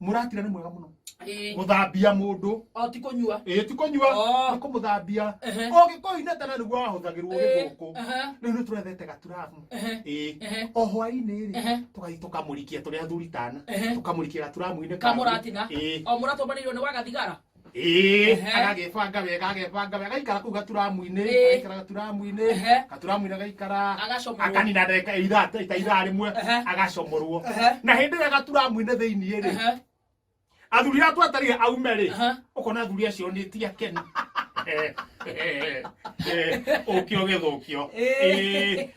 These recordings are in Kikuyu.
muratira ni mwega muno Ĩĩ. guthambia mundu o ti kũnyua ĩĩ ti kũnyua Oh. nĩ kũmũthambia Ehe. ũgĩkũinĩ tene nĩguo wahũthagĩrwo Ĩĩ. gĩgũkũ Ehe. rĩu nĩ tũrethete gaturamu Ehe. ĩĩ Ehe. o hwainĩ Ehe. rĩ tũgathiĩ tũkamũrikia tũrĩ athuri tana Ehe. tũkamũrikia gaturamu-inĩ ka kamũratina ĩĩ o mũratũmbanĩirwo nĩ wagathigara Ĩĩ, Ehe. agagĩbanga wega agagĩbanga wega agaikara kũu gaturamu-inĩ Ĩĩ. agaikara gaturamu-inĩ Ehe. gaturamu-inĩ agaikara Agacomorwo. akanina ndagĩka ithaa ta ithaa rĩmwe Ehe. agacomorwo Ehe. na hĩndĩ ĩrĩa gaturamu-inĩ thĩinĩ rĩ Ehe, athuri atũ atarĩ aume rĩ Aha. ũkona athuri acio nĩ ti akenu ũkio gĩthũkio Ĩĩ,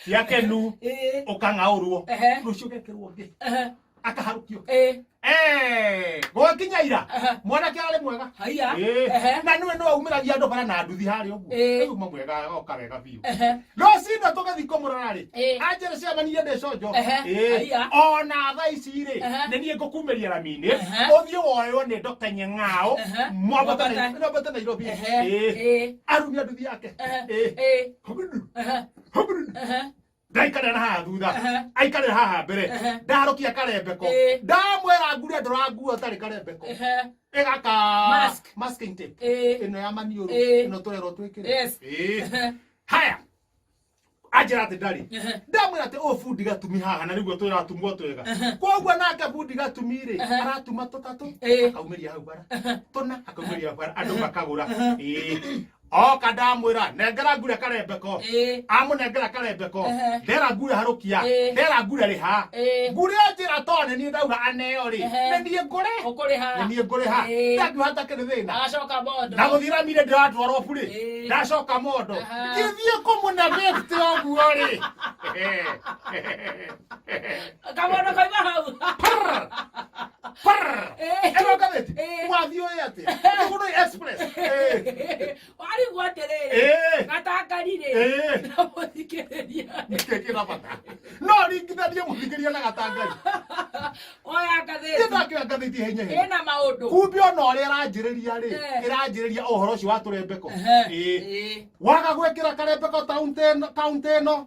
ti akenu ĩĩ, ũkang'aũrwo Ehe. rũciũ gekĩrwo ngĩ ehe, akaharukio Eh, Eh, gwakinya ira aha, mwanake ararĩ mwega haiya. Eh, Ehe. na nĩwe nĩwe umĩragia andũ bara na nduthi harĩa ũguo Eh. Rĩu uma mwega agoka wega biũ Ehe. rũcinda tũgĩthiĩ kũmũrora-rĩ Eh. anjĩra ciamanire ndĩ conjo Ehe, Eh, haiya. ona thaa ici-rĩ Ehe. nĩ niĩ ngũkumĩria raminĩ Ehe. ũthiĩ woywo nĩ ndoka nyeng'ao Ehe. mwambate Mwambate. na- mwambate nairobi Ehe. Eh, Eh. arumia nduthi yake Ehe. Eh, Eh. hũburu, Ehe. hũburu. Ehe. ndaikarĩra haha thutha aikarĩra haha mbere ndarokia karembeko ndamwĩra ngure ndũranguo ũtarĩ karembeko ĩgaka masking tape ĩno ya maniũrũ ĩno tũrerwo twĩkĩre haya anjĩra atĩ ndarĩ ndamwĩra atĩ ũũ bundi gatumi haha na nĩguo twĩratumwo twega koguo nake bundi gatumi rĩ aratuma tũtatũ akaumĩria hau bara tũna akaumĩria bara andũ makagũra oka ndamwira nengera ngure karembeko Ĩĩ. amunengera karembeko Ehe. ndera ngure harukia Ĩĩ. ndera ngure riha Ĩĩ. ngure njira to nĩ niĩ ndauga aneo rĩ Ehe. nĩ niĩ ngure Ũkũrĩha. nĩ niĩ ngure ha Ĩĩ. ndandu hatakĩrĩ thĩna Agacoka bondo. na guthira mire ndiratwarwo burĩ Ĩĩ. ndacoka mondo Aha. githie kumuna besti oguo rĩ Kabondo kaima hau. Eh. ĩrokarĩti Eh. wathiĩ ũĩ atĩ ũgũrũ express Eh, warigwo atĩrĩrĩ eh, gatangarirĩ eh. na mũthikĩrĩria kĩkĩra bata no ringithanie mũthikĩria na gatangari oya ngathĩti ĩthakĩra ngathĩti henya henya ĩna maũndũ kumbe ona ũrĩa ĩranjĩrĩria rĩ Eh. ĩranjĩrĩria ũhoro ũcio wa tũrembeko Ehe. Ĩĩ. Ĩĩ. waga gwĩkĩra karembeko taũntĩ ĩno- kaũntĩ ĩno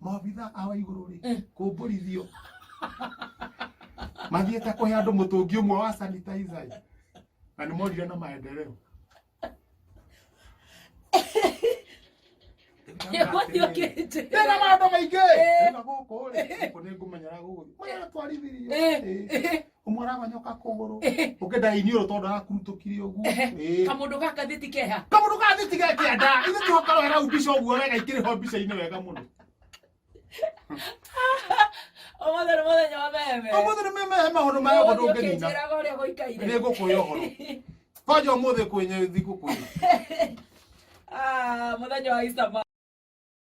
maabitha a wa igũrũ rĩ Eh. kũmbũrithio mathiĩte kũhe andũ mũtũngi ũmwe wa sanitizer ĩ. na nĩ morire na maendereo Yokĩte. tena maũndũ maingĩ Eh. na gũkũ rĩ gũkũ nĩ ngũmenyera gũgũ maratwarithirio Eh. ũmwaragonyoka kũgũrũ Ehe. ũkĩenda iniũrũ tondũ arakurutũkire ũguo Ehe. Ĩĩ. kamũndũ ga ngathĩti keha kamũndũ ga thiti gekĩenda ithe tũgakorwo hena mbica ũguo wega ikĩrĩ ho mbica-inĩ wega mũno ũmũthĩ nĩ mũthenya wa meheme ũmũthĩ nĩ memehe maũndũ maya ũguo ndũngĩnina ũkĩnjĩraga ũrĩa nĩ gũikaire ngũkũhe ũhoro kwanja ũmũthĩ kwenye thigũkũ Ah, mũthenya wa Easter